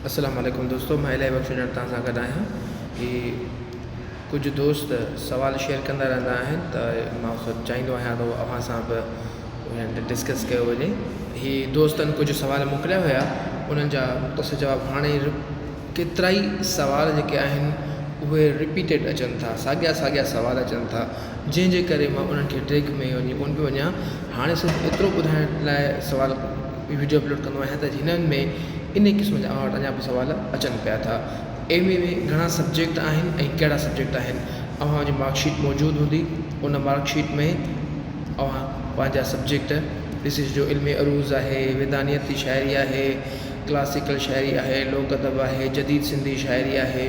السلام عليڪم دوستو مان الهي بخش اڄڻ توهان سان گڏ آهيان هي ڪجهه دوست سوال شيئر ڪندا رهندا آهن ته مان چاهيندو آهيان ته اوهان سان به انهن تي ڊسڪس ڪيو وڃي هي دوستن ڪجهه سوال موڪليا هيا انهن جا مختصر جواب هاڻي ڪيترا ئي سوال جيڪي آهن اهي رپيٽيڊ اچن ٿا ساڳيا ساڳيا سوال اچن ٿا جنهن جي ڪري مان انهن کي ڊيگهه ۾ وڃي ڪونه پيو وڃان هاڻي صرف ايترو ٻڌائڻ لاء سوال ۾ وڊيو اپلوڊ ڪندو آهيان ته جنهن ۾ انهي قسم جا آرٽ اڃا به سوال اچن پيا ٿا ايم اي ۾ گهڻا سبجيڪٽ آهن ۽ ڪهڙا سبجيڪٽ آهن اوهان جي مارڪ شيٽ موجود هوندي ان مارڪ شيٽ ۾ اوهان پنهنجا سبجيڪٽ ڏسي سجهو علمي عروض آهي ويدانيت جي شاعري آهي ڪلاسيڪل شاعري آهي لوڪ ادب آهي جديد سنڌي شاعري آهي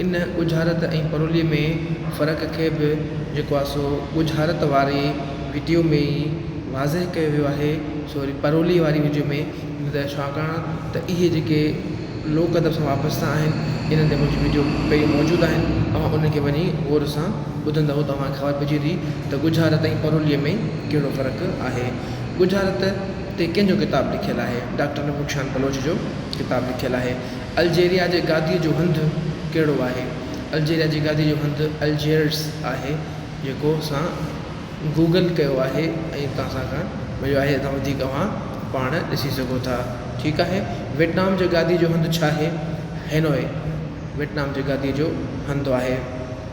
ان ڳجهارت ۽ پروليء ۾ فرق کي به جيڪو آهي سو ڳجهارت واري ويڊيو ۾ ئي واضح ڪيو ويو آهي سو وري پروليء واري ويڊيو ۾ نه ته ڇاڪاڻ ته اهي جيڪي لوڪ ادب سان وابسته آهن انهن تي منهنجي ويڊيو پهريون موجود آهن اوهان ان کي وڃي غور سان ٻڌندئو ته اوهان کي خبر پئجي ويندي ته ڳجهارت ۽ پروليء ۾ ڪهڙو فرق آهي ڳجهارت تي ڪنهن جو ڪتاب لکيل آهي ڊاڪٽر نبوخشان بلوچ جو ڪتاب لکيل آهي. الجيريا جي گاديء جو هنڌ ڪهڙو آهي؟ الجيريا جي گاديء جو هنڌ الجيئرس آهي جيڪو اسان گوگل ڪيو آهي ۽ اتان اسان کان مليو آهي اتان وڌيڪ اوهان پاڻ ڏسي سگهو ٿا ٺيڪ آهي ويٽنام جي گاديء جو هنڌ ڇا آهي؟ هينوئي ويٽنام جي گاديء جو هنڌ آهي.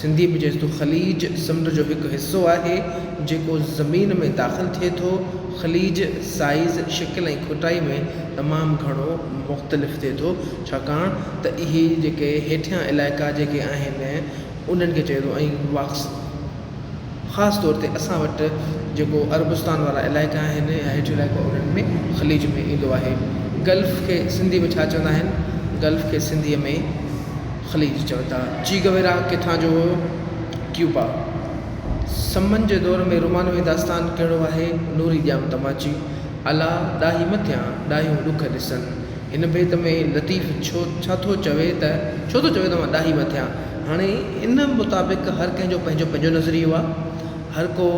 سنڌي به جيتوڻيڪ خليج سمنڊ جو هڪ حصو آهي، جيڪو زمين ۾ داخل ٿئي ٿو، خليج سائيز، شڪل ۽ کوٽائي ۾ تمام گهڻو مختلف ٿئي ٿو، ڇاڪاڻ ته اهي جيڪي هيٺيان علائقا جيڪي آهن انهن کي چئي ٿو ۽ واڪس خاص طور تي اسان وٽ جيڪو عربستان وارا علائقا آهن يا هيٺيون علائقا انهن ۾ خليج ۾ ايندو آهي. گلف کي سنڌي ۾ ڇا چوندا آهن؟ گلف کي سنڌي ۾. خليج چون ٿا. چي گويرا ڪٿان جو هيو؟ ڪيوبا. سمن جي دور ۾ رومانوي داستان ڪهڙو آهي؟ نوري ڄام تماچي. الا ڏاهي مٿيان، ڏاهيون ڏک ڏسن. هن بيت ۾ لطيف ڇو ڇا ٿو چوي ته ڇو ٿو چوي ته مان ڏاهي مٿيان؟ هاڻي ان مطابق هر ڪنهن جو پنهنجو پنهنجو نظريو آهي. هر ڪو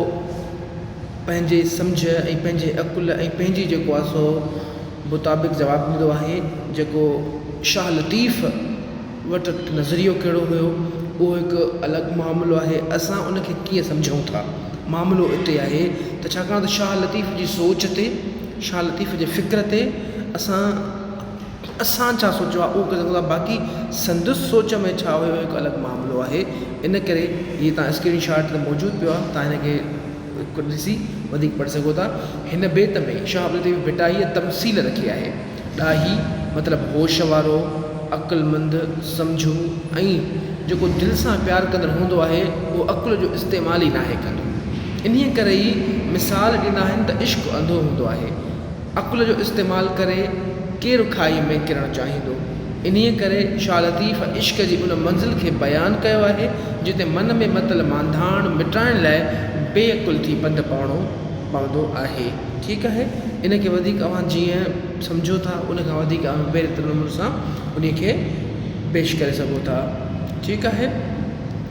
پنهنجي سمجهه ۽ پنهنجي عقل ۽ پنهنجي جيڪو آهي سو مطابق جواب ڏنو آهي جيڪو شاهه لطيف وٽ نظريو ڪهڙو هيو اهو هڪ الڳ معاملو آهي اسان ان کي ڪيئن سمجهون ٿا معاملو اتي آهي ته ڇاڪاڻ ته شاهه لطيف جي سوچ تي شاهه لطيف جي فڪر تي اسان اسان ڇا سوچيو آهي اهو ڪري سگهون ٿا باقي سندس سوچ ۾ ڇا هيو اهو هڪ الڳ معاملو آهي ان ڪري هي تان اسڪرين شاٽ موجود پيو آهي تان هن کي ڪڍي ڏسي وڌيڪ پڙهي سگهو ٿا. هن بيت ۾ شاهه عبدالطيف ڀٽائيء تمثيل رکي آهي. ڏاهي مطلب هوش وارو، عقلمند، سمجهو ۽ جيڪو دل سان پيار ڪندڙ هوندو آهي، اهو عقل جو استعمال ئي ناهي ڪندو. انهيء ڪري ئي مثال ڏنا آهن ته عشق انڌو هوندو آهي. عقل جو استعمال ڪري ڪير کاهي ۾ ڪرڻ چاهيندو؟ انهيء ڪري شاهه لطيف عشق جي ان منزل کي بيان ڪيو آهي، جتي من ۾ متل مانڌاڻ مٽائڻ لاء بي عقل ٿي پنڌ پائڻو پوندو آهي. ٺيڪ آهي، ان کي وڌيڪ اوهان جيئن سمجهو ٿا، ان کان وڌيڪ اوهان بهتر نموني سان انهيء کي پيش ڪري سگهو ٿا. ٺيڪ آهي.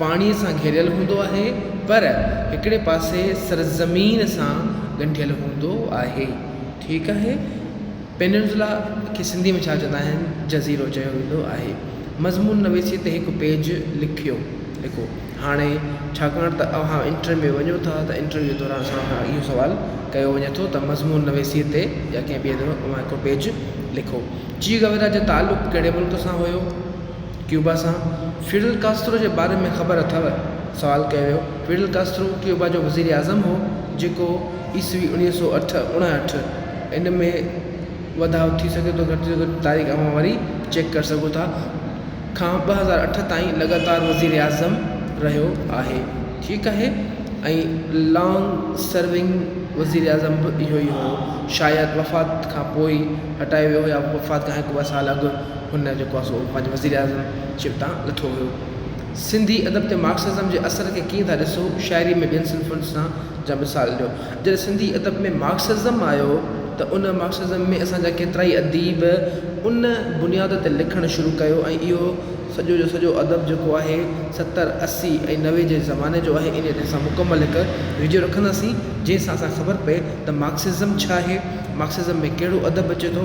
پاڻيء سان گهيريل هوندو آهي پر هڪڙي پاسي سرزمين سان ڳنڍيل هوندو آهي ٺيڪ آهي پيننسولا کي سنڌي ۾ ڇا چوندا آهن جزيرو چيو ويندو آهي مضمون نويسي تي هڪ پيج لکيو لکو هاڻي ڇاڪاڻ ته اوهان انٽرويو ۾ وڃو ٿا ته انٽرويو دوران اسان کان اهو سوال ڪيو وڃي ٿو ته مضمون نويسي تي يا ڪنهن ٻئي طرح اوهان هڪڙو پيج لکو چي گورا جو تعلق ڪهڙي ملڪ سان هيو ڪيوبا سان فيڊل ڪاسترو جي باري ۾ خبر اٿئو؟ سوال ڪيو ويو. فيڊل ڪاسترو ڪيوبا جو وزير اعظم هو جيڪو عيسوي اوڻيهه سؤ اٺ، اڻهٺ، ان ۾ وڌاء ٿي سگهي ٿو گهٽ جي گهٽ تاريخ اوهان وري چيڪ ڪري سگهو ٿا، کان ٻه هزار اٺ تائين لڳاتار وزير اعظم رهيو آهي ٺيڪ آهي ۽ لانگ سرونگ وزير اعظم به اهو ئي هو شايد وفات کان پوء ئي هٽايو ويو يا وفات کان هڪ ٻه سال اڳ هن جيڪو آهي سو پنهنجي وزير اعظم شپ تان لٿو ويو. سنڌي ادب تي مارڪسزم جي اثر کي ڪيئن ٿا ڏسو؟ شاعري ۾ ٻين صنفن سان جا مثال ڏيو. جڏهن سنڌي ادب ۾ مارڪسزم آيو ته ان مارڪسزم ۾ اسان جا ڪيترائي اديب ان بنياد تي لکڻ شروع ڪيو ۽ اهو سڄو جو سڄو ادب جيڪو آهي ستر اسي ۽ نوي جي زماني جو آهي. انهيء تي اسان مڪمل هڪ وڊيو رکنداسين جنهن سان اسان کي خبر پئي ته مارڪسزم ڇا آهي؟ مارڪسزم ۾ ڪهڙو ادب اچي ٿو؟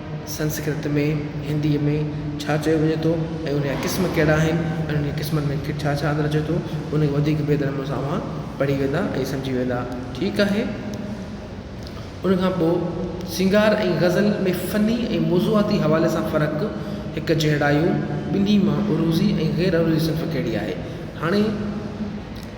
سنسڪرت ۾ هندي ۾ ڇا چيو وڃي ٿو ۽ ان جا قسم ڪهڙا آهن ۽ انهن جي قسمن ۾ ڇا ڇا اندر اچي ٿو ان کي وڌيڪ بهتر نموني سان اوهان پڙهي ويندا ۽ سمجهي ويندا ٺيڪ آهي ان کان پوء سنگار ۽ غزل ۾ فني ۽ موضوعاتي حوالي سان فرق هڪ جهڙايون ٻنهي مان عروضي ۽ غير عروضي صنف ڪهڙي آهي هاڻي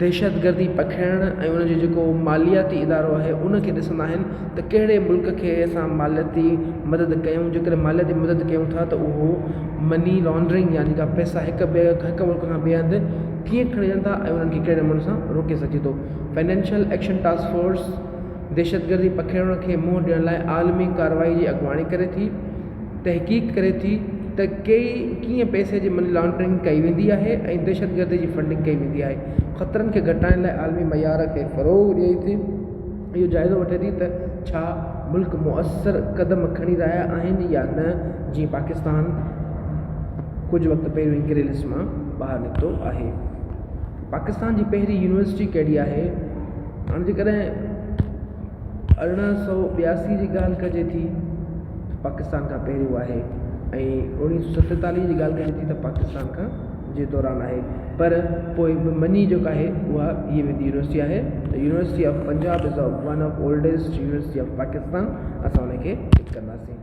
دهشتگردي پکيڙڻ ۽ ان جو جيڪو مالياتي ادارو آهي ان کي ڏسندا آهن ته ڪهڙي ملڪ کي اسان مالياتي مدد ڪيون جيڪڏهن مالياتي مدد ڪيون ٿا ته اهو مني لانڊرنگ يعني جيڪا پئسا هڪ ٻئي هڪ ملڪ کان ٻئي هنڌ ڪيئن کڻجن ٿا ۽ انهن کي ڪهڙي نموني سان روڪي سگهجي ٿو فنانشل ايڪشن ٽاسڪ فورس دهشتگردي پکيڙڻ کي منهن ڏيڻ لاء عالمي ڪارروائي جي اڳواڻي ڪري ٿي تحقيق ڪري ٿي ته ڪئي ڪيئن پئسي جي مني لانڊرنگ ڪئي ويندي آهي ۽ دهشت گردي جي فنڊنگ ڪئي ويندي آهي خطرن کي گهٽائڻ لاء عالمي معيار کي فروغ ڏئي ٿي اهو جائزو وٺي ٿي ته ڇا ملڪ موثر قدم کڻي رهيا آهن يا نه جيئن پاڪستان ڪجهه وقت پهريون ئي گري لسٽ مان ٻاهر نڪتو آهي پاڪستان جي پهرين يونيورسٽي ڪهڙي آهي هاڻ جيڪڏهن ارڙهن سؤ ٻياسي جي ڳالهه ڪجي ٿي ته پاڪستان کان پهريون آهي ۽ اڻويهه سؤ ستيتاليهه جي ڳالهه ڪجي ٿي ته پاڪستان کان جي دوران آهي پر پوء به مڃي جيڪا آهي اها ٿي ويندي يونيورسٽي آهي ته university of Punjab is one of oldest university of Pakistan اسان ان کي ٽڪ ڪنداسين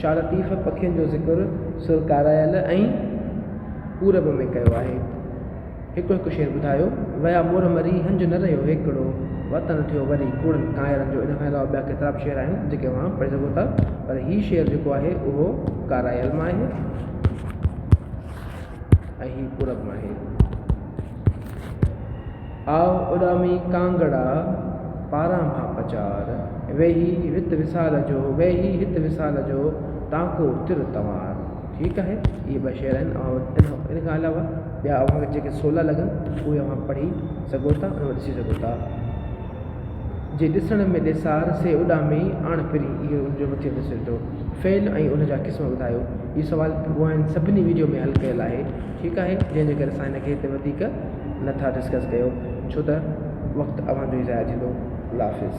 شاهه لطيف پکين جو ذڪر سر ڪارائل ۽ پورب ۾ ڪيو آهي. هڪڙو هڪ شعر ٻڌايو. ويا مور مري هنج نه رهيو هيڪڙو، وطن ٿيو وري ڪوڙن ڪانئرن جو ان کان علاوه ٻيا ڪيترا به شعر آهن جيڪي اوهان پڙهي سگهو ٿا پر هي شعر جيڪو آهي اهو ڪارائل مان آهي ۽ هي پورب مان آهي. آء اڏامي ڪانگڙا، پاران مان پچار، ويهي وت وصال جو، ويهي هت وصال جو، ٽانڪو تر تنوار. ٺيڪ آهي اهي ٻه شعر آهن اوهان وٽ ان کان علاوه ٻيا اوهان کي جيڪي سولا لڳن اهي اوهان پڙهي سگهو ٿا ۽ ڏسي سگهو ٿا. جي ڏسڻ ۾ ڏيسار سي اڏامي آڻ پرين اهو ان جو مٿيون حصو ٿيو. فعل ۽ ان جا قسم ٻڌايو. اهو سوال اوهانجن سڀني وڊيو ۾ حل ڪيل آهي. ٺيڪ آهي جنهن جي ڪري اسان هن کي هتي وڌيڪ نه ٿا ڊسڪس ڪيو ڇو ته وقت اوهان جو ئي ضايع ٿيندو الله حافظ.